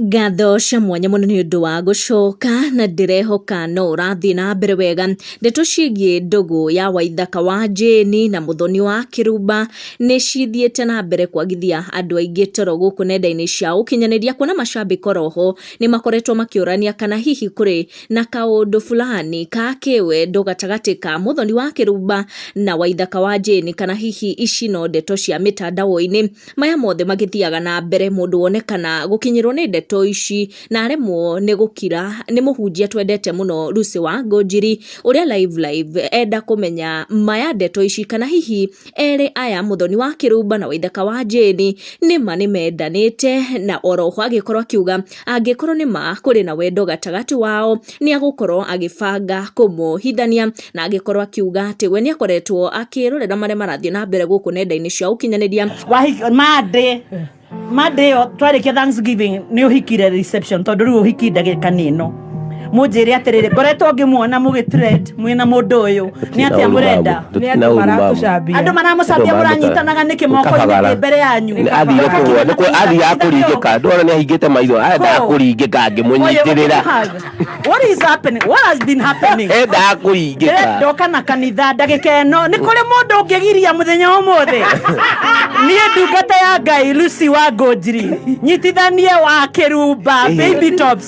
Ngatho cia mwanya mũno nĩ ũndũ wa gũcoka na ndĩrehoka no ũrathiĩ na mbere wega. Ndeto ciĩgiĩ ndũgũ ya Waithaka wa Jane na Mũthoni wa Kĩrumba nĩ cithiĩte na mbere kwagithia andũ aingĩ toro gũkũ nenda-inĩ cia ũkinyanĩria kuona macambĩki oro ho nĩ makoretwo makĩũrania kana hihi kũrĩ na kaũndũ fulani ka kĩwendo gatagatĩ ka Mũthoni wa Kĩrumba na Waithaka wa Jane kana hihi ici no ndeto cia mĩtandao-inĩ. maya mothe magĩthiaga na mbere mũndũ wonekana gũkinyĩrwo nĩ ndeto ici na aremwo nĩ gũkira nĩ mũhunjia twendete mũno Lucy Wangonjiri ũrĩa live live enda kũmenya maya ndeto ici kana hihi erĩ aya Mũthoni wa Kĩrumba na Waithaka wa Jane nĩma nĩmendanĩte na oroho agĩkorwo akiuga Angĩkorwo nĩ ma kũrĩ na wendo gatagatĩ wao, nĩ agũkorwo agĩbanga kũmohithania, na angĩkorwo akiuga atĩ we nĩ akoretwo akĩrorera marĩa marathiĩ na mbere gũkũ nenda-inĩ cia ũkinyanĩria wahiki mandĩ mandĩ ĩyo twarĩkia thanksgiving nĩ ũhikire reception tondũ rĩu ũhiki ndagĩka nĩ ĩno munjire atiriri ngoretwo ngimuona mugitrend mwina mundu uyu ni atia murenda ni andu maratucambia andu maramucambia muranyitanaga niki moko ni mbere yanyu athire kuhwa ni ku athire akuringika ndona ni ahingite maitho enda akuringika ngimunyitirira what is happening what has been happening enda akuringika ndoka na kanitha ndagika ino ni kuri mundu ungigiria muthenya umuthi ni ndungata ya ngai Lucy wa Ngũnjiri nyitithanie wa kirumba baby tops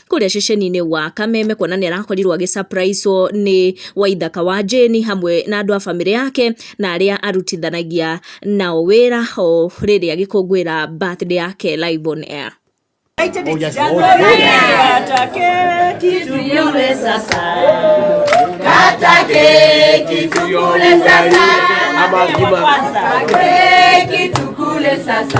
kũrĩa ceceni-inĩ wa Kameme kuona nĩ arakorirwo agĩ surprise wo nĩ Waithaka wa Jane hamwe na andũ a bamĩrĩ yake na arĩa arutithanagia nao wĩra o rĩrĩa agĩkũngũĩra birthday yake live on air. Ama ngima. Keki tukule sasa.